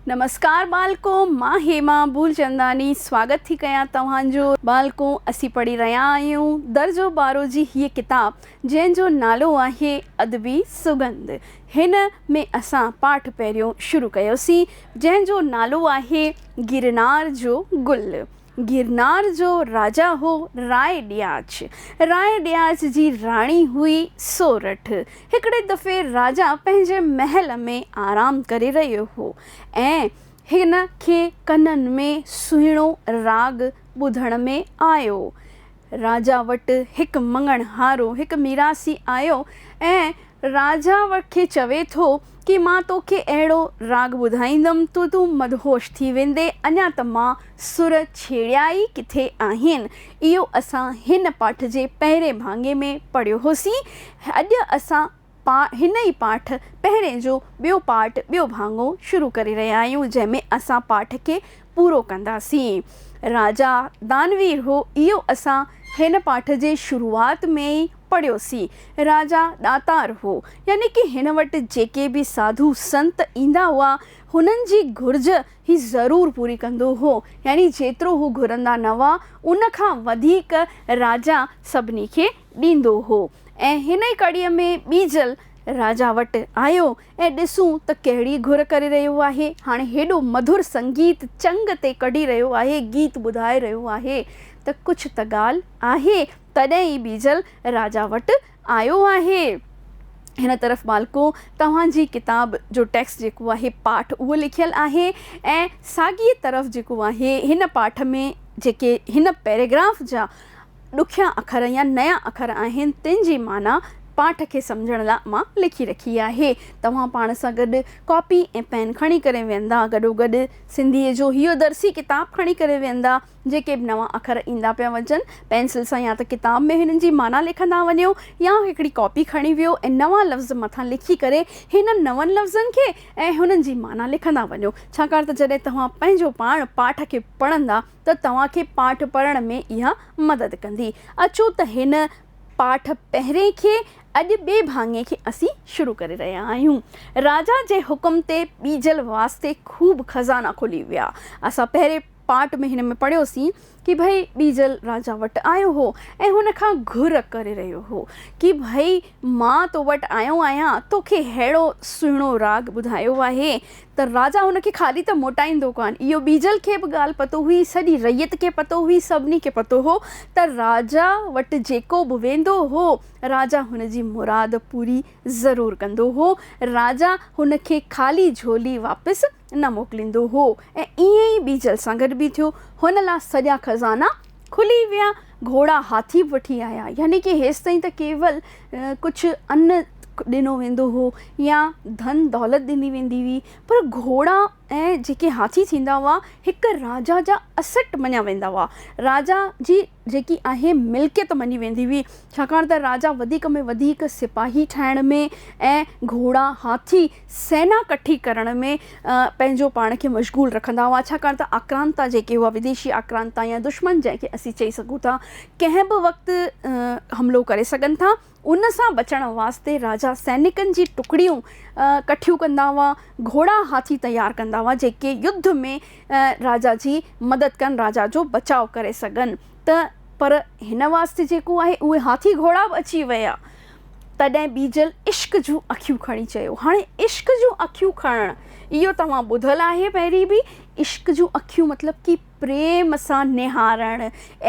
نمسڪار ٻالڪو مان هيما ٻولچنداني سواگت ٿي ڪيان توهان جو. ٻالڪو اسين پڙهي رهيا آهيون درجو ٻارهون جي هيء ڪتاب جنهن جو نالو آهي ادبي سڳنڌ هن ۾ اسان پاٺ پهريون شروع ڪيوسين جنهن جو نالو آهي گرنار جو گل. گرنار جو راجا هو راء ڏياچ. راء ڏياچ جي راڻي هئي سورٺ. هڪڙي دفعي راجا پنهنجي محل ۾ آرام ڪري رهيو هو ۽ هن کي ڪنن ۾ سهڻو راڳ ٻڌڻ ۾ آيو. راجا وٽ هڪ مڱڻ هارو، هڪ ميراثي، آيو ۽ راجا کي چوي ٿو ڪي مان توکي اهڙو راڳ ٻڌائيندم تو تون مدهوش ٿي ويندي اڃا ته مان سر ڇيڙيا ئي ڪٿي آهن. اهو اسان هن پاٺ جي پهرين ڀاڱي ۾ پڙهيو هوسين. اڄ اسان. پا هن ئي پاٺ پهرين جو ٻيو پارٽ ٻيو ڀاڱو شروع ڪري رهيا آهيون جنهن ۾ اسان پاٺ کي پورو ڪنداسين راجا دانوير هو اهو اسان هن پاٺ جي شروعات ۾ ئي پڙهيوسين راجا ڏاتار هو يعني ڪي هن وٽ جيڪي به ساڌو سنت ايندا هئا هنن جي گهرج هي ضرور پوري ڪندو هو يعني جيترو هو گهرندا نه هئا ان کان وڌيڪ راجا سڀني کي ڏيندو هو ۽ هن ئي ڪڙي ۾ ٻيجل راجا وٽ آيو ۽ ڏسون ته ڪهڙي گهر ڪري رهيو آهي هاڻي هيڏو مڌر سنگيت چنگ تي ڪڍي رهيو آهي گيت ٻڌائي رهيو آهي ته ڪجهه ته ڳالهه آهي تڏهن ئي ٻيجل راجا وٽ آيو آهي هن طرف مالڪو توهان جي ڪتاب جو ٽيڪسٽ جيڪو آهي پاٺ اهو لکيل آهي ۽ ساڳيء طرف جيڪو آهي هن پاٺ ۾ جيڪي هن پيراگراف جا ڏکيا اکر يا نيا اکر آهن تن جي معنيٰ پاٺ کي سمجهڻ لاء مان لکي رکي آهي. توهان پاڻ سان گڏ ڪاپي ۽ پين کڻي ڪري ويهندا گڏوگڏ سنڌيء جو هيء درسي ڪتاب کڻي ڪري ويهندا. جيڪي به نوان اکر ايندا پيا وڃن پينسل سان يا ته ڪتاب ۾ هنن جي معنيٰ لکندا وڃو يا هڪڙي ڪاپي کڻي ويهو ۽ نوان لفظ مٿان لکي ڪري هنن نون لفظن کي ۽ هنن جي معنيٰ لکندا وڃو ڇاڪاڻ ته جڏهن توهان پنهنجو پاڻ پاٺ کي پڙهندا ته توهان کي پاٺ پڙهڻ ۾ اها مدد ڪندي. اچو ته هن پاٺ پهرئين کي اڄ ٻئي ڀاڱي کي اسين شروع ڪري رهيا آهيون. راجا جي حڪم تي ٻيجل واسطي خوب خزانا کلي ويا. اسان پهرئين پاٺ ۾ هن ۾ پڙهيوسين ڪي ڀئي ٻيجل راجا وٽ آيو هو ۽ هن کان گهر ڪري رهيو هو ڪي ڀئي مان تو وٽ آيو آهيان توکي ههڙو سهڻو راڳ ٻڌايو آهي ته راجا هن کي خالي ته موٽائيندو ڪانه. اهو ٻيجل کي به ڳالهه پتو هئي، سڄي رعيت کي پتو هئي، سڀني کي پتو هو ته راجا وٽ جيڪو به ويندو هو، راجا هن جي مراد پوري ضرور ڪندو هو. راجا هن کي خالي جهولي واپس نه موڪليندو هو ۽ ائين ئي ٻيجل سان گڏ به ٿيو. هن لا سڄا خزانا کلي ويا گهوڙا هاٿي به وٺي آيا يعني ڪي هيستائين ته ڪيول ڪجهه ان ڏنو ويندو هو يا ڌن دولت ڏني ويندي هئي پر گهوڙا ۽ جيڪي هاٿي ٿيندا هئا هڪ راجا جا اسٽ مڃيا ويندا هئا راجا جي جيڪي آهي ملڪيت مڃي ويندي هئي ڇاڪاڻ ته راجا وڌيڪ ۾ وڌيڪ سپاهي ٺاهڻ ۾ ۽ گهوڙا هاٿي سينا ڪٺي ڪرڻ ۾ پنهنجو پاڻ کي مشغول رکندا هئا، ڇاڪاڻ ته آڪرانتا جيڪي هئا وديشي آڪرانتا يا دشمن جنهن کي اسين چئي سگهون ٿا ڪنهن به وقت حملو ڪري سگهن ٿا ان سان بچڻ واسطي راجا سينڪن جي ٽڪڙيون ڪٺيون ڪندا هئا گهوڙا هاٿي تيار ڪندا هئا جيڪي يڌ ۾ راجا جي مدد ڪن راجا جو بچاء ڪري سگهن ته پر هن واسطي جيڪو آهي اهي هاٿي گهوڙا به اچي ويا تڏهن ٻيجل عشق جون اکيون کڻي چيو. هاڻي عشق جون اکيون کڻڻ اهو توهان ٻڌل آهي پهرين به. عشق جون اکيون مطلب ڪي پريم سان نهارڻ،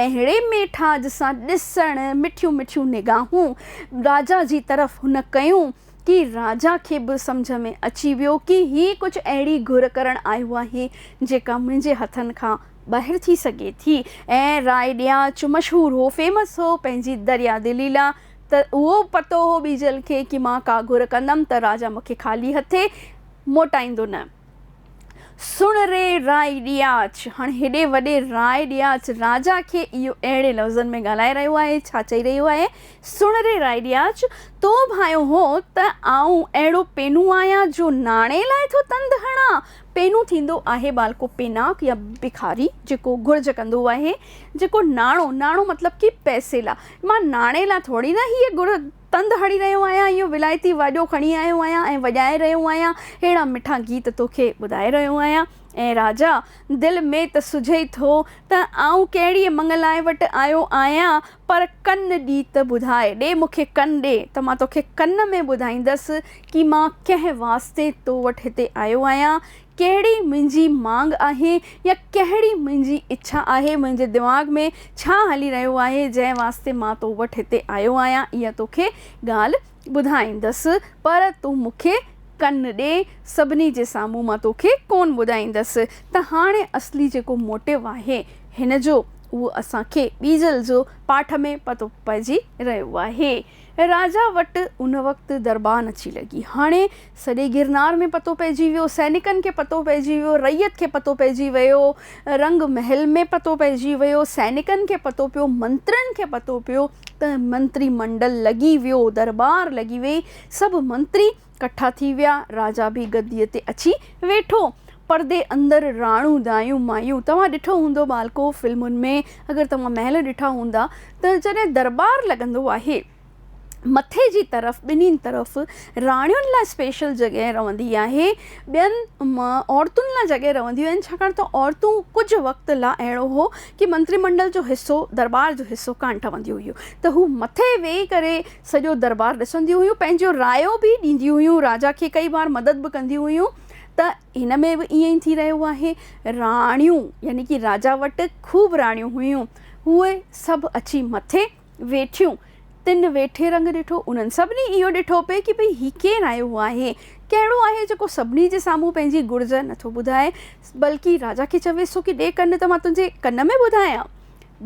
اهڙي ميٺاج سان ڏسڻ، مٺيون مٺيون نگاهون راجا جي طرف هن ڪيون ڪي راجا کي به سمجهه ۾ اچي ويو ڪي هي ڪجهه اهڙي گهر ڪرڻ آيو آهي جيڪا منهنجي هٿن کان ٻاهر ٿي سگهي ٿي ۽ راء ڏيان چ مشهور هو، Famous، هو پنهنجي دريا دلي لا ته اهو پتو هو ٻيجل کي ڪي مان ڪا گهر ڪندم ته راجا مون کي خالي هٿين موٽائيندو نه. سڻ ري رائي ڏياچ! هاڻ هيڏي وڏي رائي ڏياچ راجا کي اهو اهڙي لفظن ۾ ڳالهائي رهيو آهي، ڇا چئي رهيو آهي، سڻ ري رائي ڏياچ! تو ڀانيو هو ته آئون اهڙو پينو آهيان جو ناڻي لاء ٿو تند هڻان. پينو ٿيندو آهي ٻالڪو پيناڪ يا بکاري جيڪو گهرج ڪندو آهي، جيڪو ناڻو، ناڻو مطلب ڪي پئسي لاء، مان ناڻي لا ٿوري نه هيء ڳڙ تند هڻي رهيو آهيان، اهو ولايتي واڄو کڻي آيو آهيان ۽ وڄائي رهيو آهيان، ههڙا مٺا گيت توکي ٻڌائي رهيو آهيان. اي راجا! دل ۾ ته سجهي ٿو ته آئون ڪهڙيء مڱلائي وٽ آيو آهيان، پر ڪن ڏي ته ٻڌاء، ڏي مون کي ڪن ڏي ته مان توکي ڪن ۾ ٻڌائيندس ڪي مان ڪنهن واسطي تو وٽ هتي آيو آهيان، ڪهڙي منهنجي مانگ آهي يا ڪهڙي منهنجي اڇا آهي، منهنجي دماغ ۾ ڇا هلي رهيو آهي، جنهن واسطي مان تو وٽ هتي آيو آهيان، اها توکي ڳالهه ٻڌائيندس، پر تون مون کي ڪن ڏي، سڀني جي سامهون مان توکي ڪونه ٻڌائيندس ته هاڻي اصلي جيڪو موٽيو آهي هن جو، اهو اسان کي ٻيجل جو پاٺ ۾ پتو پئجي رهيو آهي. راجا وٽ ان وقت دربان اچي لڳي. هاڻي سڄي گرنار ۾ پتو پئجي ويو، سئنيڪن کي پتو پئجي ويو، رعيت کي پتو پئجي ويو، رنگ محل ۾ پتو پئجي ويو، سئنيڪن کي پتو پيو، منترين کي پتو پيو ته منتري منڊل لڳي ويو، درٻار لڳي ويئي، سڀ منتري ڪٺا ٿي ويا، راجا به گديء تي اچي ويٺو. پردي اندر راڻو، دايون، مايون، توهان ڏٺو هوندو ٻالڪو فلمن ۾ اگر توهان محل ڏٺا هوندا ته جڏهن درٻار لڳندو آهي، مٿي جي طرف ٻنهين طرف راڻين لاء اسپيشل جڳهه رهندي آهي. ٻين عورتن لاء جڳهه رهنديون آهن ڇاڪاڻ ته عورتون ڪجهه وقت لاء اهڙو هو ڪي منتري منڊل جو حصو درٻار جو حصو ڪانه ٺهنديون هيون ته هو مٿي ويهي ڪري سڄو درٻار ڏسنديون هيون پنهنجو رايو به ڏينديون هيون راجا کي ڪئي بار مدد به ڪنديون هيون ته هن ۾ به ائين ئي ٿي رهيو آهي راڻيون يعني ڪي راجا وٽ خوب راڻيون هيون هوء سڀ اچي مٿي ويٺيون، تن ويٺي رنگ ڏٺو، انهن سڀني اهو ڏٺو پئي ڪي ڀئي هي ڪين آيو هو آهي، ڪهڙو آهي جيڪو سڀني جي سامهون پنهنجي گرج نه ٿو ٻڌائي، بلڪه راجا کي چويس ٿو ڪي ڏي ڪن ته مان تنهنجي ڪن ۾ ٻڌايان.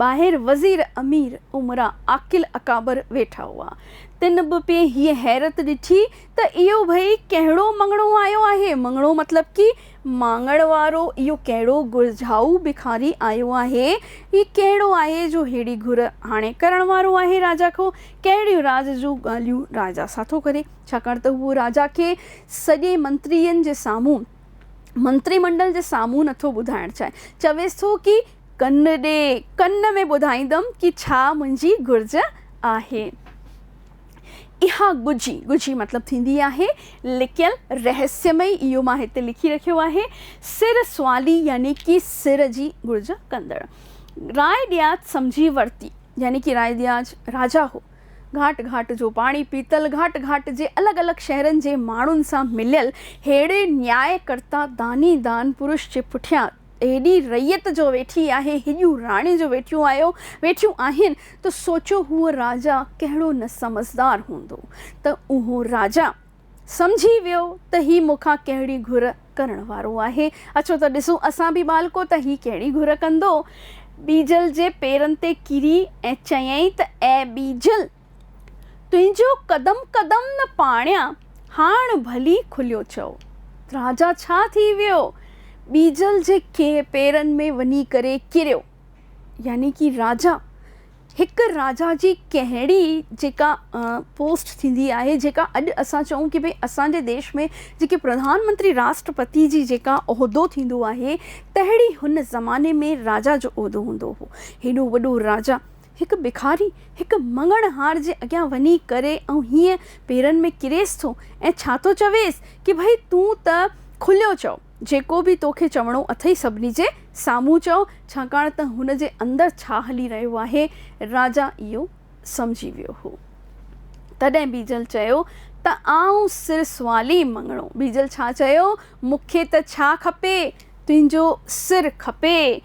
ٻاهر وزير، امير، امراء، عاقل اڪابر ويٺا هئا، تن به پئي هيء حيرت ڏٺي ته اهو ڀئي ڪهڙو مڱڻو آيو آهي، مڱڻو مطلب ڪي ماڱڻ وارو، اهو ڪهڙو گهرجائو ڀکاري آيو آهي؟ هي ڪهڙو آهي جو ههڙي گهر هاڻي ڪرڻ وارو آهي راجا کان؟ ڪهڙيون راز جون ڳالهيون راجا سان ٿو ڪري؟ ڇاڪاڻ ته هو راجا کي سڄي منترين جي سامهون، منتري منڊل جي سامهون نٿو ٻڌائڻ چاهي. چويس ٿو ڪي ڪن ڏي، ڪن ۾ ٻڌائيندم ڪي ڇا منهنجي گهرج آهي. اها ڳجهي، ڳجهي مطلب ٿيندي آهي لڪيل، رهسيمئي، اهو مان هتي لکي رکيو آهي، سر سوالي يعني ڪي سر جي گهرج ڪندڙ. راء ڏياچ سمجهي ورتي يعني ڪي راء ڏياچ راجا هو. گهاٽ گهاٽ جو پاڻي پيتل، گهاٽ گهاٽ جي الڳ الڳ شهرن جي ماڻهن سان مليل، ههڙي نياء ڪرتا داني دان پرش جي پٺيان، هيڏي رعيت جو ويٺي آهي، هيڏيون راڻي جو ويٺيون آهيو، ويٺيون آهن، ته سوچو هو راجا ڪهڙو نه سمجهدار هوندو، ته اهو راجا سمجهي ويو ته هي مون کان ڪهڙي گهر ڪرڻ وارو آهي. اچو ته ڏسون اسان به ٻالڪو ته هي ڪهڙي گهر ڪندو. ٻيجل جي پيرن تي ڪري ۽ چيائين ته اي ٻيجل! تنهنجو قدم قدم نه پاڻيان، هاڻ ڀلي کليو چئو. راجا ڇا ٿي ويو؟ ٻيجل جي ڪنهن پيرن ۾ وڃي ڪري ڪريو. يعني ڪي راجا، هڪ راجا جي ڪهڙي جيڪا پوسٽ ٿيندي آهي، جيڪا اڄ اسان چئون ڪي ڀئي اسان جي ديش ۾ جيڪي پرڌان منتري راشٽرپتي جي جيڪا عهدو ٿيندو آهي، تهڙي هن زماني ۾ راجا جو عهدو هوندو هو. هيڏو وڏو راجا هڪ ڀکاري هڪ مڱڻهار جي اڳيان وڃي ڪري ۽ هيئن پيرن ۾ ڪريس ٿو ۽ ڇا ٿو چويس ڪي ڀئي تون ته کليو چئو، جيڪو به تو کي چوڻو اٿئي سڀني جي سامهون چئو، ڇاڪاڻ ته هن جي اندر ڇا هلي رهيو آهي راجا اهو سمجهي ويو هو. تڏهن بيجل چيو ته آئون سر سوالي مڱڻو. بيجل ڇا چيو مون کي ته ڇا کپي تنهنجو سر کپي.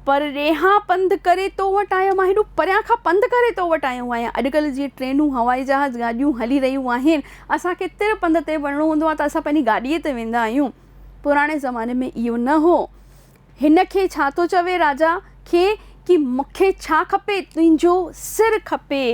پرڏيهان پنڌ ڪري تو وٽ آيو مان هيڏو پريان کان پنڌ ڪري تو وٽ آيو آهيان اڄڪلهه جيئن ٽرينون هوائي جهاز گاڏيون هلي رهيون آهن اسان کي تر پنڌ تي وڃڻو هوندو آهي ته اسان پنهنجي گاڏيء تي ويندا آهيون پراڻي زماني ۾ اهو نه هو هن کي ڇا ٿو چوي راجا کي ڪي مون کي ڇا کپي تنهنجو سر کپي.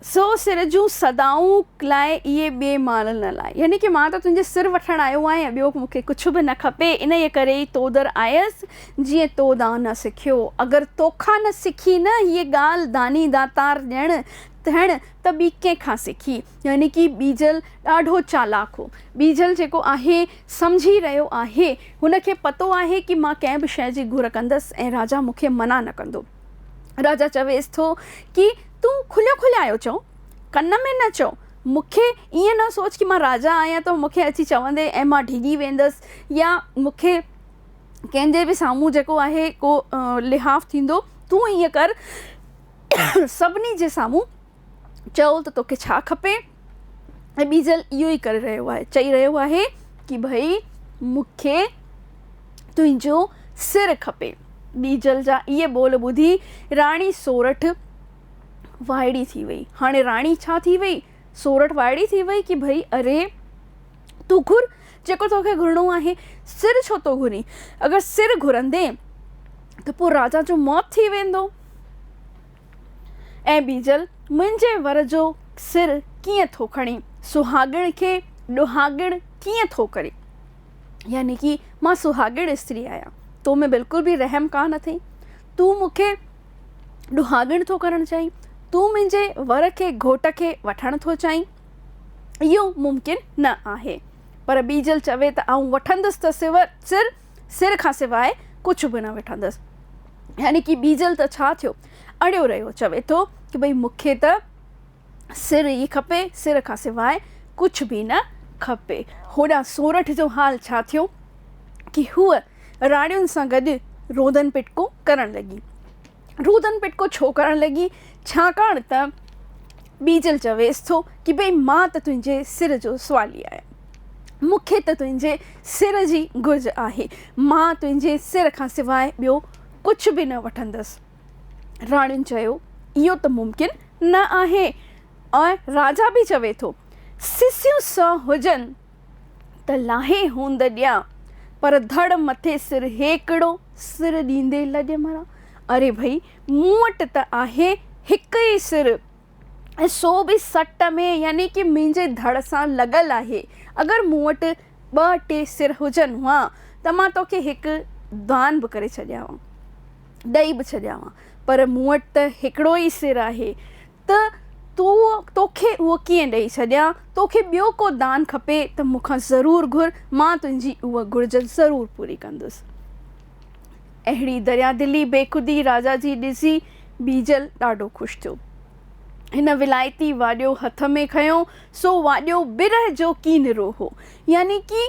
سو سر جون صدائون لاء اهي ٻئي مال نه لاء. يعني ڪه مان ته تنهنجي سر وٺڻ آيو آهيان، ٻيو مون کي ڪڇ به نه کپي، انهيء ڪري ئي تو در آيس، جيئن تو دان نه سکيو. اگر تو کان نه سکي نه هيء ڳالهه داني داتار ڄڻ ٿيڻ، ته ٻي ڪنهن کان سکي؟ يعني ڪه ٻيجل ڏاڍو چالاڪ هو. ٻيجل جيڪو آهي، سمجهي رهيو آهي. هن کي پتو آهي ڪه مان ڪنهن به شيء جي گهر ڪندس ۽ راجا مون کي منع نه ڪندو. راجا چويس ٿو ڪه. تون کليو کليائو چئو، ڪن ۾ نه چئو، مون کي ائين نه سوچ ڪي مان راجا آهيان ته مون کي اچي چوندين ۽ مان ڊڄي ويندس يا مون کي ڪنهن جي به سامهون جيڪو آهي ڪو لحاف ٿيندو، تون ائين ڪر سڀني جي سامهون چئو ته توکي ڇا کپي. ابيجل اهو ئي ڪري رهيو آهي چئي رهيو آهي ڪي ڀئي مونکي تنهنجو سر کپي. ٻيجل جا اهي ٻول ٻڌي راڻي سورٺ وائڙي ٿي وئي. هاڻي راڻي ڇا ٿي وئي؟ سورٺ وائڙي ٿي وئي ڪي ڀئي اري تون گهر جيڪو توکي گهرڻو آهي. سر ڇو ٿو گهرين؟ اگر سر گهرندين ته پوء راجا جو موت ٿي ويندو. اي ٻيجل منهنجي ور جو سر ڪيئن ٿو کڻين، سهاڳڻ کي ڏوهاڳڻ ڪيئن ٿو ڪرين. يعني ڪي مان سهاڳڻ استري آهيان، تو ۾ بلڪل به رحم ڪانه اٿئي، تون مون کي ڏوهاڳڻ ٿو ڪرڻ چاهين، تون منهنجي ور کي گهوٽ کي وٺڻ ٿو چاهين، اهو ممڪن نه آهي. پر ٻيجل چوي ته آئون وٺندس ته سر سر کان سواء ڪجهه به نه وٺندس. يعني ڪي ٻيجل ته ڇا ٿيو، اڙيو رهيو، چوي ٿو ته ڀئي مون کي ته سر ئي کپي، سر کان سواء ڪجهه به نه کپي. هوڏانهن سورٺ جو حال ڇا ٿيو ڪي هوء راڙين سان گڏ روندن پٽڪون ڪرڻ لڳي. رودن پٽڪو ڇو ڪرڻ لڳي، ڇاڪاڻ ته ٻيجل چويس ٿو ڪي ڀئي مان ته تنهنجي سر جو سوالي آهيان. مون کي ته تنهنجي سر جي گهرج آهي. مان تنهنجي سر کان سواء ٻيو ڪجهه به نه وٺندس. راڻين چيو، اهو ته ممڪن نه آهي ۽ راجا به چوي ٿو، سسيون سؤ هجن ته لاهي هوند ڏيان، پر ڌڙ مٿي سر هيڪڙو سر ڏيندي لڄ مران. اري ڀئي، مون وٽ ته آهي هڪ ئي سر ۽ سو به سٽ ۾ يعني ڪي منهنجي ڌڙ سان لڳل آهي. اگر مون وٽ ٻه ٽي سر هجن ها ته مان توکي هڪ دان به ڪري ڇڏيان ها، ڏئي به ڇڏيان ها، پر مون وٽ ته هڪڙو ئي سر آهي. ته تون توکي اهو ڪيئن ڏئي ڇڏيان، توکي ٻيو ڪو دان کپي ته مون کان ضرور گهر، مان تنهنجي اها گهرج ضرور پوري ڪندس. اهڙي دريادلي، بيخودي راجا جي ڏسي بيجل ڏاڍو خوش ٿيو. هن ولايتي واڏيو هٿ ۾ کنيو، سو واڏيو برهه جو ڪينرو هو، يعني ڪي.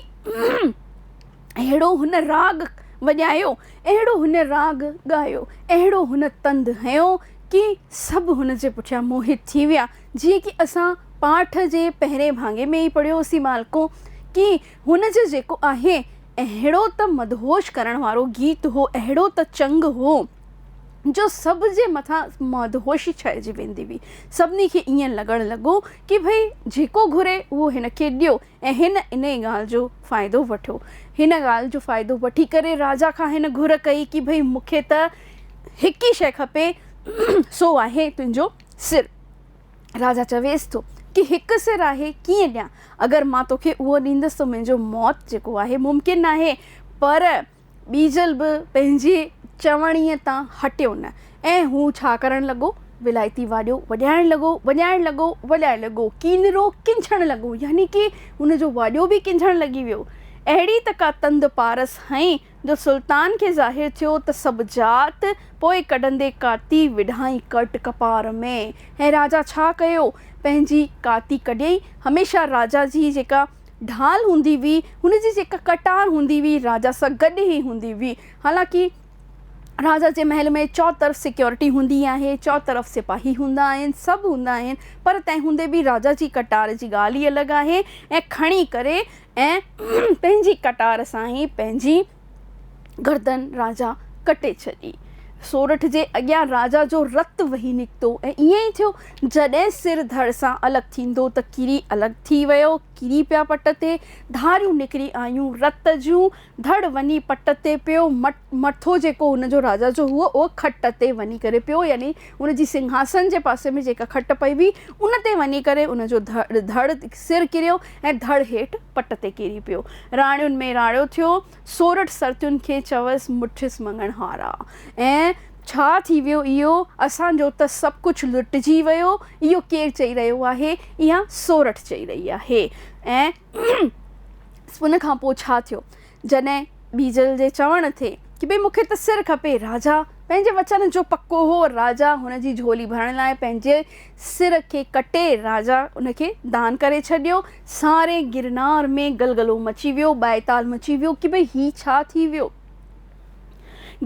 اهڙو هن راڳ وڄايو، اهڙو هن راڳ ڳايو، اهڙو هن تند هنيو ڪي سڀ هن جي پٺيان موهت ٿي ويا، جيئن ڪي اسان پاٺ جي پهرين ڀاڱي ۾ ئي پڙهيو هوسين مالڪو! ڪي هن جو جيڪو آهي، اهڙو ته مدهوش ڪرڻ وارو گيت هو، اهڙو ته چنگ هو، جو سڀ جي مٿان مدهوشي ڇائجي ويندي هئي. سڀني کي ائين لڳڻ لڳو ڪي ڀئي جيڪو گهري اهو هن کي ڏيو، ۽ هن انهيء ڳالهه جو فائدو وٺيو. هن ڳالهه جو فائدو وٺي ڪري راجا کان هن گهر ڪئي ڪي ڀئي مون کي ته هڪ ئي شيء کپي سو آهي تنهنجو سر. راجا چويس ٿو ڪي هڪ سر آهي ڪيئن ڏيان. اگر مان توکي اهو ڏيندس ته منهنجو موت جيڪو آهي ممڪن ناهي پر ٻيجل به پنهنجي چوڻيء تان هٽيو نه ۽ هو ڇا ڪرڻ لڳو؟ ولايتي واڄو وڄائڻ لڳو، وڄائڻ لڳو، وڄائڻ لڳو. ڪينرو ڪنجهڻ لڳو يعني ڪي هن جو واڄو به ڪنجهڻ لڳي ويو. اهڙي ته ڪا تند پارس هنئين جو سلطان کي ظاهر ٿيو ته سڀ جات پوء ڪڍندي ڪاتي وڍائين ڪرٽ ڪپار ۾. ۽ راجا ڇا ڪيو؟ پنهنجي ڪاتي ڪڍيائين. هميشه راجا جي جيڪا ڍال هوندي هئي، هن جي جيڪا ڪٽار هوندي هئي، راجا سان گڏ ئي هوندي هئي. حالانڪه راجا جي محل ۾ چؤطرف سيڪيورٽي هوندي آهي، چؤطرف سپاهي هوندا آهن، سڀ هوندا آهن، پر تنهن هوندي به راجا جي ڪٽار جي ڳالهه ئي الڳ آهي ۽ کڻي ڪري ۽ پنهنجي ڪٽار سان ئي پنهنجي گردن راجا ڪٽي ڇڏي. سورٺ جي اڳيان راجا جو رت وهي نڪتو ۽ ائين ئي ٿيو. جڏهن سر ڌڙ سان الڳ ٿيندو ته ڪري الڳ ٿي ويو. ڪري پيا پٽ تي. ڌاريون نڪري آيون رت جون. ڌڙ وڃي پٽ تي پيو. مٿو جيڪو هن جو راجا جو هئو اهو کٽ تي وڃي ڪري پيو يعني ان جي سنگهاسن جي پاسي ۾ جيڪا کٽ پئي هئي ان تي وڃي ڪري ان جو ڌڙ سر ڪريو ۽ ڌڙ هيٺ پٽ تي ڪري پيو. راڻيون ۾ راڻيو ٿيو. سورٺ سرتين کي چويس مٺيس مڱڻ هارا! ۽ ڇا ٿي ويو اهو؟ اسان جو ته سڀ ڪجهه لٽجي ويو. اهو ڪير چئي رهيو آهي؟ اها سورٺ چئي رهي آهي. ۽ ان کان پوء ڇا ٿيو؟ جڏهن ٻيجل جي چوڻ تي ڪي ڀي مون کي ته سر کپي راجا پنهنجي وچن جو پڪو هو راجا هن جي جهولي ڀرڻ لاء پنهنجي سر کي ڪٽي راجا ان کي دان ڪري ڇڏيو ساري گرنار ۾ گلگلو مچي ويو ٻائتال مچي ويو ڪي ڀي هي ڇا ٿي ويو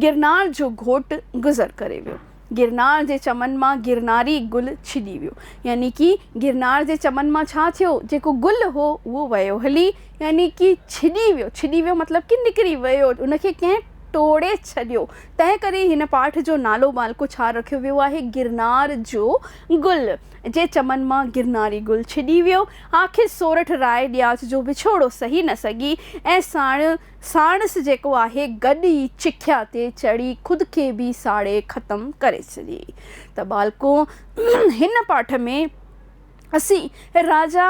گرنار جو گهوٽ گذر ڪري ويو. گرنار جي چمن مان گرناري گل ڇڄي ويو. يعني ڪي گرنار جي چمن مان ڇا ٿيو؟ جيڪو گل هو، اهو ويو هلي. يعني ڪي ڇڄي ويو. ڇڄي ويو مطلب ڪي نڪري ويو. ان کي ڪنهن ٽوڙي ڇڏيو. تنهن ڪري هن پاٺ جو نالو ٻالڪو ڇا رکيو ويو آهي؟ گرنار جو گل جي چمن مان گرناري گل ڇڄي ويو. آخر سورٺ راء ڏياچ جو وڇوڙو سهي نه سگهي ۽ ساڻ ساڻس جيڪو آهي گڏ ئي چکيا تي چڙهي خود کي به ساڙي ختم ڪري ڇڏي ته ٻالڪو هن پاٺ ۾ اسين راجا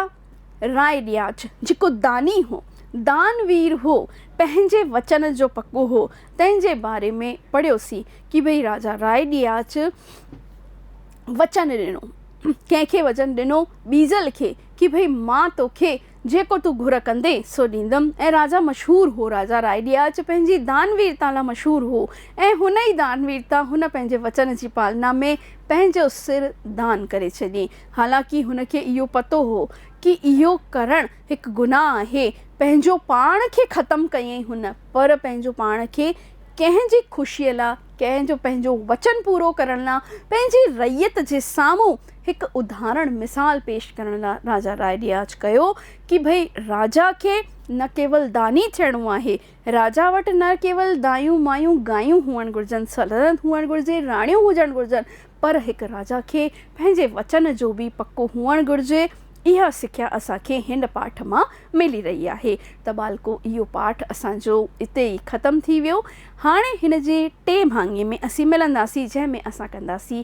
راء ڏياچ جيڪو داني هو دان وير هو پنهنجي وچن جو پڪو هو تنهن جي باري ۾ پڙهيوسين ڪي ڀئي راجا راء ڏياچ وچن ڏنو ڪنهن کي وچن ڏنو ٻيجل کي ڪي ڀئي مان توکي جيڪو تون گهر ڪندين سو ڏيندم ۽ راجا مشهور هو راجا راء ڏياچ پنهنجي دان ويرتا لا مشهور هو ۽ هن ئي دان ويرتا هن پنهنجي وچن جي پالنا ۾ پنهنجو سر دان ڪري ڇڏين حالانڪه هن کي اهو پتو هو ڪي اهو ڪرڻ هڪ گناهه آهي پنهنجو پاڻ کي ختم ڪيئين هن پر پنهنجو پاڻ کي ڪنهن جي خوشي لا ڪنهن جو پنهنجو وچن پورو ڪرڻ لا پنهنجي رعيت جي سامهون هڪ ادهارڻ مثال پيش ڪرڻ لا راجا راء ڏياچ ڪيو ڪي ڀئي راجا کي نه ڪيول داني ٿيڻو آهي، راجا وٽ نه ڪيول دايون مايون گايون هئڻ گهرجن، سلطنت هئڻ گهرجي، راڻيون هجڻ گهرجن، پر هڪ راجا کي پنهنجي وچن جو به پڪو هئڻ گهرجي. اها سکيا اسان کي هن پاٺ مان ملي رهي آهي ته ٻالڪو اهو پاٺ اسان جو اتي ئي ختم ٿي ويو. هاڻي هن جي ٽئين ڀاڱي ۾ اسين ملنداسين جنهن ۾ اسان ڪنداسين